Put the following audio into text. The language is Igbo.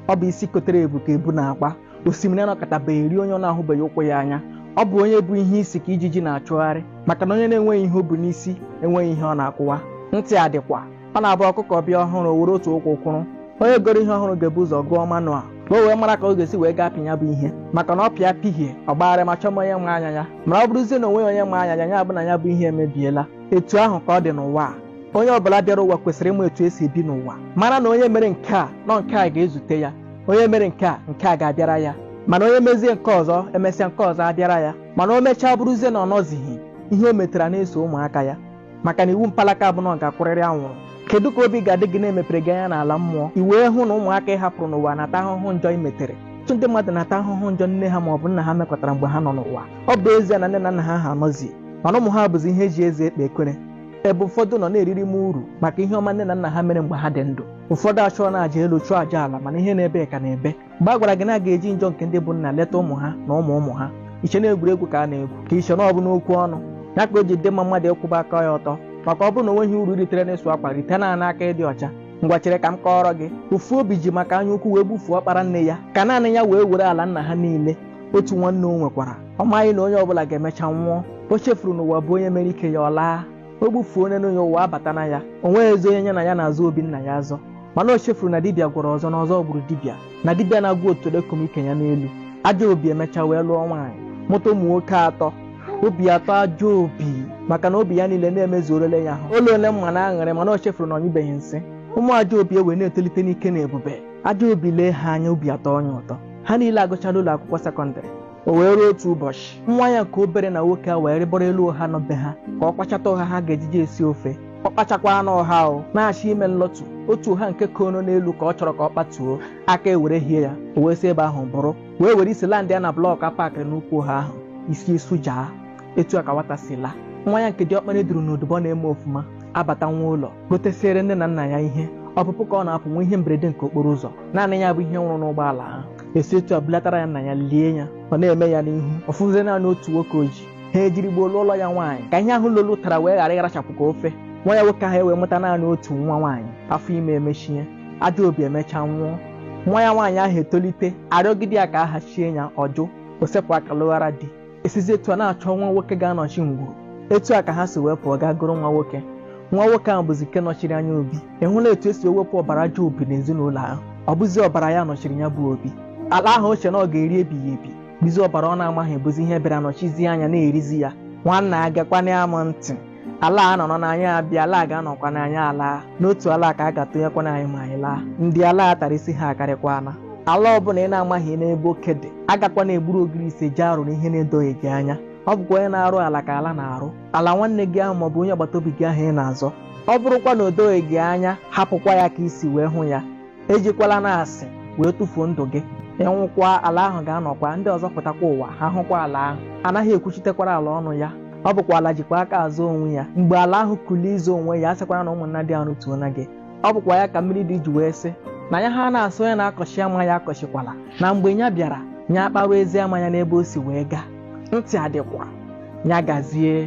ọ bụ isi kotere ebu ka ebu na-agba osimiri anọkatabeghị rie onye ọ na-ahụbeghị ụkwụ ya anya ọ bụ onye bu ihe isi ka ijiji na-achụgharị maka na onye na-enweghị ihe o bu n'isi enweghị ihe ọ na-akụwa ntị a dịkwa ọ na-abụ ọkụkọ bịa ọhụrụ o were otu ụkwụ kwụrụ onye goro ihe ọhụrụ ga-ebu ụzọ gụọ manual ka o wee mara ka ọ ga-esi wee ga-apị ya bụ ihe maka na ọ pịa pịhie ọ gbagharịma chọma onye ma anya ya mana ọ bụrụzie na o nweghị onye ma anya ya ya bụ na ya bụ ihe emebiela etu ahụ ka ọ dị n'ụwa a onye ọbụla bịara ụwa kwesịrị ịma etu esi ebi n'ụwa mara na onye mere nke a na ọ nke a ga-ezute ya onye mere nke a nke a ga-abịara ya mana onye mezie nke ọzọ emesịa nke ọzọ abịara ya mana o mechaa bụrụzie na ọ nọzighị ihe o metara na-eso ụmụaka ya maka na iwu mpalaka bụ na ọ ga-akwụrịrị anwụrụ kedu ka obi ga-adị gị na emepere gị anya n'ala mmụọ i wee hụ na ụmụaka ị hapụrụ n'ụwa na-ata ahụhụ njọ i metere ọtụtụ ndị mmadụ na-ata ahụhụ njọ nne ha ma ọ bụ nna ha mekọtara mgbe ha nọ n'ụwa ọ bụ ezie na nne na nna ha ha anọzi mana ụmụ ha bụzi ihe eji eze ekpe ekwere ebe ụfọdụ nọ na-eririma uru maka ihe ọma nne na nna ha mere mgbe ha dị ndụ ụfọdụ achụọna aja elu chụọ aja ala mana ihe na-ebe ka na-ebe mgbe a gwara gị na a ga-eji njọ nke ndị bụ nna leta ụmụ ha na ụmụ ụmụ ha i che na egwuregwu ka a na-egwu ka i che na ọ bụ n'okwu ọnụ ya ka o ji dị mma mmadụ ịkwụba aka ya ọtọ maka ọ bụrụ na o nweghị uru i ritere n'ịsụ akwa rite ya n'aka ịdị ọcha ngwa chere ka m kọọrọ gị ofu obi ji maka anya ukwu wee gbufuo ọkpara nne ya ka naanị ya wee were ala nna ha niile otu nwanne o nwekwara ọ maghị na onye ọbụla ga-emecha nwụọ o chefuru na ụwa bụ onye mere ike ya ọ laa o gbufuo onye n'onye ụwa abata na ya o nweghịzi onye ya na ya na-azọ obi nna ya azọ mana o chefuru na dibịa gwọrọ ọzọ na ọzọ gburu dibịa na dibịa na-agwọ otolo ekoma ike ya n'elu ajọ obi emecha wee lụọ nwaanyị mụta ụmụ nwoke atọ obi atọọ ajọ obi maka na obi ya niile na-emezuorele ya ahụ ụlọ ole mma na aṅụrị mana o chefuru na ọ nyụbeghị nsị ụmụ ajọ obi ewee na-etolite n'ike na ebube ajọ obi lee ha anya obi atọọ ya ụtọ ha niile agụchala ụlọ akwụkwọ sekọndịrị o wee ruo otu ụbọchị nwa ya nke obere na nwoke ewee rịgoro elu ụha nọ be ha ka ọ kpachata ụha ha ga-ejiji esi ofe ọ kpachakwaanụ ụha ahụ na-achọ ime nlọtụ otu ụha nke kono n'elu ka ọ chọrọ ka ọ kpatuo aka ewerehie ya o wee si ebe ahụ bụrụ wee were isi landịa na blọk a pakịrị n'ukwu ụha ahụ isi esujaa etu a ka nwata si laa nwa ya nke diọkpara duru n'odubọ na-eme ofuma abata nwa ụlọ gotesiere nne na nna ya ihe ọpụpụ ka ọ na-apụ nwee ihe mberede nke okporo ụzọ naanị ya bụ ihe nwụrụ n'ụgbọala ahụ esi etu a bulatara ya nna ya lie ya ọ na-eme ya n'ihu ọ fọzie naanị otu nwoke o ji ha ejiri gboo lụọrọ ya nwaanyị ka ihe ahụ lolu tara wee ghara ịrachapụ ka ofe nwa ya nwoke ahụ ewee mụta naanị otu nwa nwaanyị afọ ime emechie ajọ obi emechaa nwụọ nwa ya nwaanyị ahụ etolite arịọgide ya ka a hachie ya ọ jụ o sepụ aka lụghara di esizi etu a na-achọ nwa nwoke ga-anọchi ngwuru etu a ka ha si wee pụọ gaa gụrụ nwa nwoke nwa nwoke ahụ bụzi nke nọchiri anya obi ị hụla etu esi ewepụ ọbara ajọ obi n'ezinụlọ ahụ ọ bụzi ọbara ya nọchiri ya bụ obi ala ahụ o che na ọ ga-eri ebighị ebi bụzi ọbara ọ na-amaghị bụzi ihe bịara nọchizie anya na-erizi ya nwanna agakwana ya m ntị ala a nọrọ na anyị abịa ala a ga-anọkwa na anyị alaa n'otu ala a ka a ga-atụnyekwa n'anyị ma anyị laa ndị ala a tara isi ha akarịkwala ala ọbụla ị na-amaghị n'ebe oke dị agakwana egburu ogirisi jee arụ n'ihe na-edoghị gị anya ọ bụkwa onye na-arụ ala ka ala na-arụ ala nwanne gị ahụ maọbụ onye agbata obi gị ahụ ị na-azọ ọ bụrụkwa na o doghị gị anya hapụkwa ya ka i si wee hụ ya ejikwala na asị wee tụfuo ndụ gị ị nwụkwa ala ahụ ga-anọkwa ndị ọzọ pụtakwa ụwa ha hụkwa ala ahụ anaghị ekwuchitekwara ala ọnụ ya ọ bụkwa ala jikwa aka azọ onwe ya mgbe ala ahụ kulie ịzọ onwe ya a sịkwara na ụmụnna dị ahụ tuo na gị ọ bụkwa ya ka mmiri ide ji wee sị na ya ha na-asị onye na-akọchi ama ya akọchikwala na mgbe ya bịara ya akpawa ezi ama ya n'ebe o si wee gaa ntị adịkwa ya gazie